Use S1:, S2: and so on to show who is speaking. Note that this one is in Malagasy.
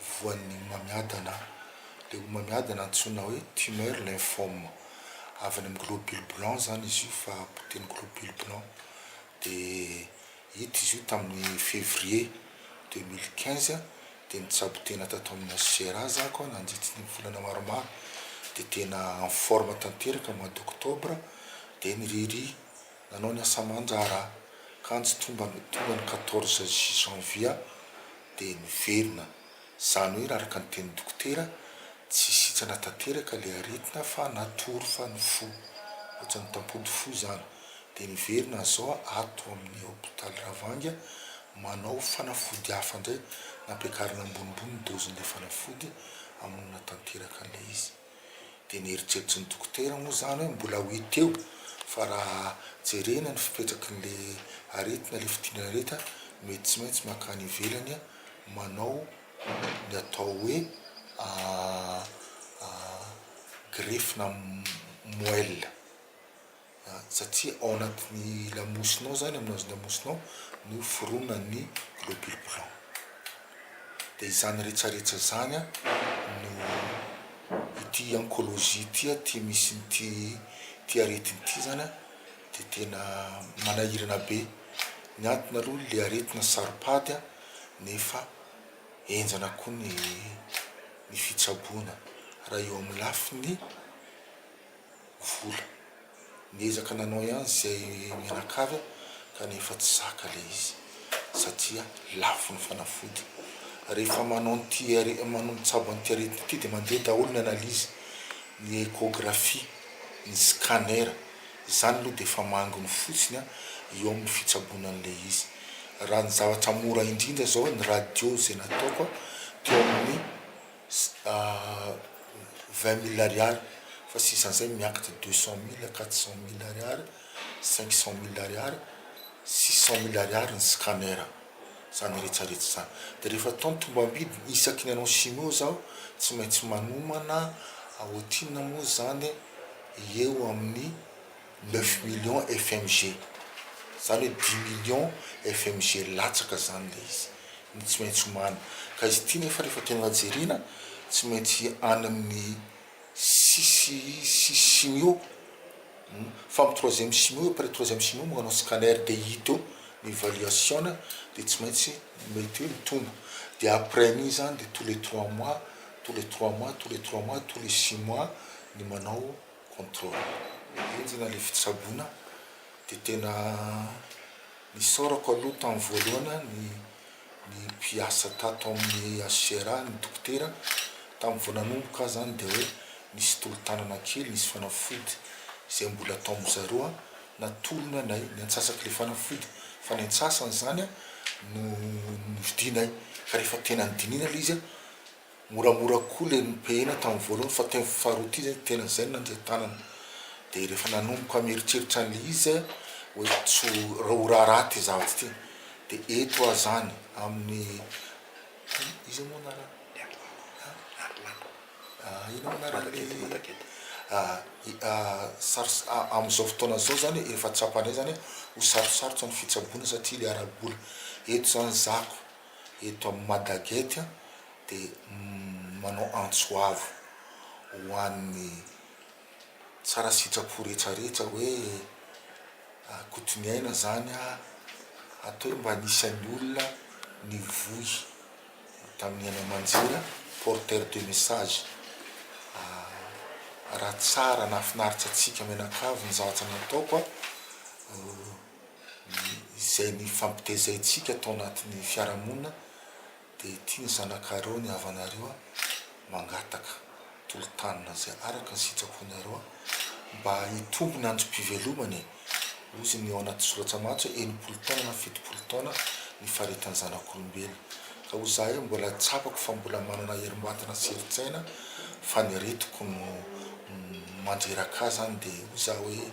S1: voan'ny homamiadana. Ilay homamiadana antsoina hoe tumeur lymphome. Avy any amin'ny globule blanc izany izy io fa potehiny globule blanc. Dia hita izy io tamin'ny février deux mille quinze. Dia nitsabo tena tato amina CRA za ko nandritry ny volana maromaro. Dia tena en forme tanteraka mois d'octobre dia niriria Nanao ny asaman-draharaha kanjo tonga ny tonga ny quatorze janvier dia niverina. Izany hoe raha araka ny tenin'ny dokotera tsy sitrana tanteraka ilay aretina fa natory fa ny fo ohatran'ny tampody fo izany dia niverina zao ato amin'ny hopitaly Ravanga manao fanafody hafa indray nampiakarina ambonimbony ny dozin'ilay fanafody hamonina tanteraka an'ilay izy. Dia neritreritry ny dokotera moa izany hoe mbola ho hita eo fa raha jerena ny fipetraky ilay aretina, ilay fidiran'aretina mety tsy maintsy mankany ivelany manao ny atao hoe greffe na moelle. satria ao anatin'ny lamosinao zany, amin'ny hazon-damosinao no fironan'ny globules blancs, dia izany retraretra izany no ity oncologie ity aty misy an'ity ity aretina ity zany dia tena manahirana be, ny antony aloha ilay aretina saropady nefa henjana koa ny ny fitsaboana raha eo amin'ny lafiny vola. Niezaka nanao ihany izay mianakavy aho kanefa tsy zaka ilay izy satria lafo ny fanafody. Rehefa manao an'ity are- manao mitsabo an'ity aretina ity dia mandeha daholo ny analyse, ny échographie, ny scanner. Izany aloha dia efa manginy fotsiny an, eo amin'ny fitsaboana an'ilay izy. Raha ny zavatra mora indrindra izao ny radio izay nataoko an, teo amin'ny. vingt mille ariary fa tsy isan'izay ny miakatra deux cent mille, quatre cent mille ariary, cinq cent mille ariary, six cent mille ariary ny scanner izany rehetra rehetra izany dia rehefa atao ny tombam-bidy isaky ny anao chimio zao tsy maintsy manomana ohatrinona moa izany eo amin'ny Neuf millions FMG, zany hoe dimy millions FMG latsaka zany le izy no tsy maintsy omana, ka izy ity nefa refa tena jerena tsy maintsy any amin'ny sisy sisy simio fa amin'ny troisième simio après troisième simio manao scanner dia hita eo ny valuation dia tsy maintsy mety hoe mitombo dia après an'iny zany dia tous les trois mois tous les trois mois tous les trois mois tous les six mois ny manao contrôle enjana ilay fitsaboana de tena nisaorako aloha tamin'ny voalohana ny ny mpiasa tato amin'ny HCRA ny dokotera tamin'ny vao nanomboka aho zany de hoe nisy tolo-tanana kely nisy fanafody izay mbola atao amin'ny zareo a natolony anay ny antsasaky le fanafody fa ny antsasany zany a no novidinay fa rehefa tena nodinihina le izy a Moramora koa ilay nopehina tamin'ny voalohany fa teo amin'ny faharoa ity izay tena izay no nandeha tanana. Dia rehefa nanomboka mieritreritra an'ilay izy aho hoe tsy ho ho raharaha ity zavatra ity. Dia eto aho izany amin'ny iza moa anarany? Inona moa anaran'ilay amin'izao fotoana izao izany efa tsapanay izany hoe ho sarotsarotra ny fitsaboana satria ilay ara-bola. Eto izany zako. eto amin'ny Madagec dia manao antso avo ho an'ny tsara sitrapo rehetra rehetra hoe Kotoniaina izany a, hatao hoe mba anisan'ny olona nivoy tamin'ny haino aman-jery, porteur de message, raha tsara nahafinaritra antsika mianakavy ny zavatra nataoko a. izay nifampitezaintsika tao anatin'ny fiarahamonina dia ity ny zanakareo ny havanareo a mangataka tolo-tanana izay araka ny sitraponareo a mba hitombo ny androm-pivelomany e ozy ny ao anaty soratra matsy hoe enimpolo taona na fitopolo taona ny faritany zanak'olombelona ka ho zahay mbola tsapako fa mbola manana herim-batana sy herin-tsaina fa ny aretiko no mandreraka ahy zany dia ho za hoe